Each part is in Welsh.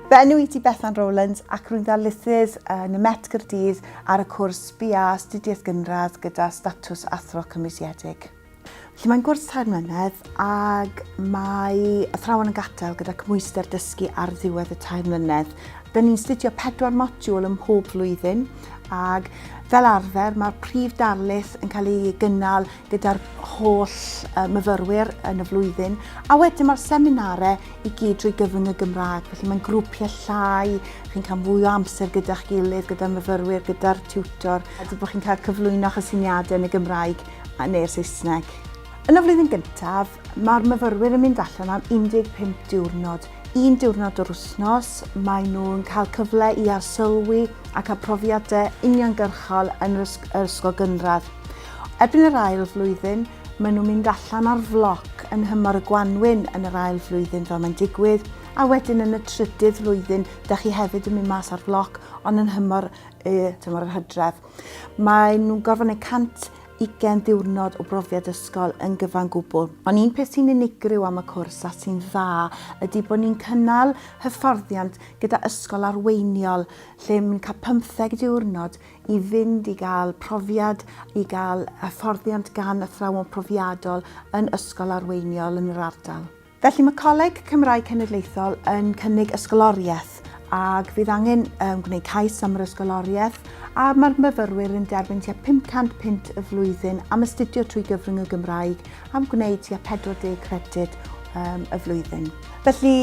Fy enw i ti Bethan Rowlands ac rwy'n ddarlithydd yn y Met Gyrdydd ar y cwrs BA Astudiaeth Gynradd gyda statws athro cymwysiedig. Felly mae'n gwrs tair mlynedd ac mae athrawon yn gadael gyda cymwyster dysgu ar ddiwedd y tair mlynedd. Dyn ni'n studio pedwar modiwl ym mhob flwyddyn ac fel arfer mae'r prif darlith yn cael ei gynnal gyda'r holl uh, myfyrwyr yn y flwyddyn, a wedyn mae'r seminare i gyd drwy gyfrwng y Gymraeg, felly mae'n grwpiau llai, chi'n cael fwy o amser gyda'ch gilydd, gyda'r myfyrwyr, gyda'r tiwtor, a dwi bod chi'n cael cyflwyno chysyniadau yn y Gymraeg neu'r Saesneg. Yn y flwyddyn gyntaf, mae'r myfyrwyr yn mynd allan am 15 diwrnod. Un diwrnod o'r wythnos, maen nhw'n cael cyfle i arsylwi ac a profiadau uniongyrchol yn yr ysgol gynradd. Erbyn yr ail flwyddyn, maen nhw'n mynd allan ar floc yn nhymor y gwanwyn yn yr ail flwyddyn fel mae'n digwydd, a wedyn yn y trydydd flwyddyn, da chi hefyd yn mynd mas ar floc, ond yn nhymor y tymor yr hydref. Mae nhw'n gorfod gwneud 100 ugain ddiwrnod o brofiad ysgol yn gyfan gwbl. Ond un peth sy'n unigryw am y cwrs a sy'n dda ydy bod ni'n cynnal hyfforddiant gyda ysgol arweiniol lle mae'n cael pymtheg diwrnod i fynd i gael profiad, i gael hyfforddiant gan athrawon profiadol yn ysgol arweiniol yn yr ardal. Felly mae Coleg Cymraeg Cenedlaethol yn cynnig ysgoloriaeth ac fydd angen um, gwneud cais am yr ysgoloriaeth a mae'r myfyrwyr yn derbyn tua 500 punt y flwyddyn am astudio trwy gyfrwng y Gymraeg am gwneud tua 40 credyd um, y flwyddyn. Felly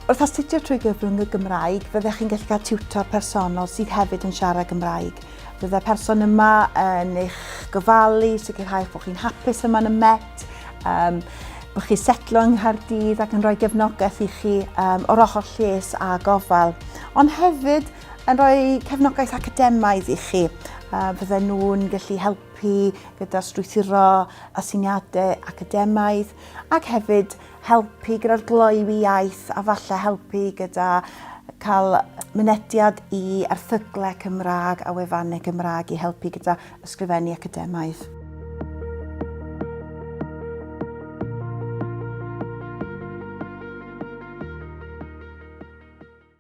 Wrth astudio trwy gyfrwng y Gymraeg, fyddech chi'n gallu cael tiwtor personol sydd hefyd yn siarad Gymraeg. Byddai'r person yma yn eich gofalu, sicrhau bod chi'n hapus yma yn y Met, um, bod chi setlo yng Nghaerdydd ac yn rhoi gefnogaeth i chi um, o'r ochr lles a gofal. Ond hefyd, yn rhoi cefnogaeth academaidd i chi. Uh, fydden nhw'n gallu helpu gyda'r strwythuro asyniadau academaidd ac hefyd helpu gyda'r gloywi iaith a falle helpu gyda cael mynediad i erthyglau Cymraeg a wefannau Cymraeg i helpu gyda ysgrifennu academaidd.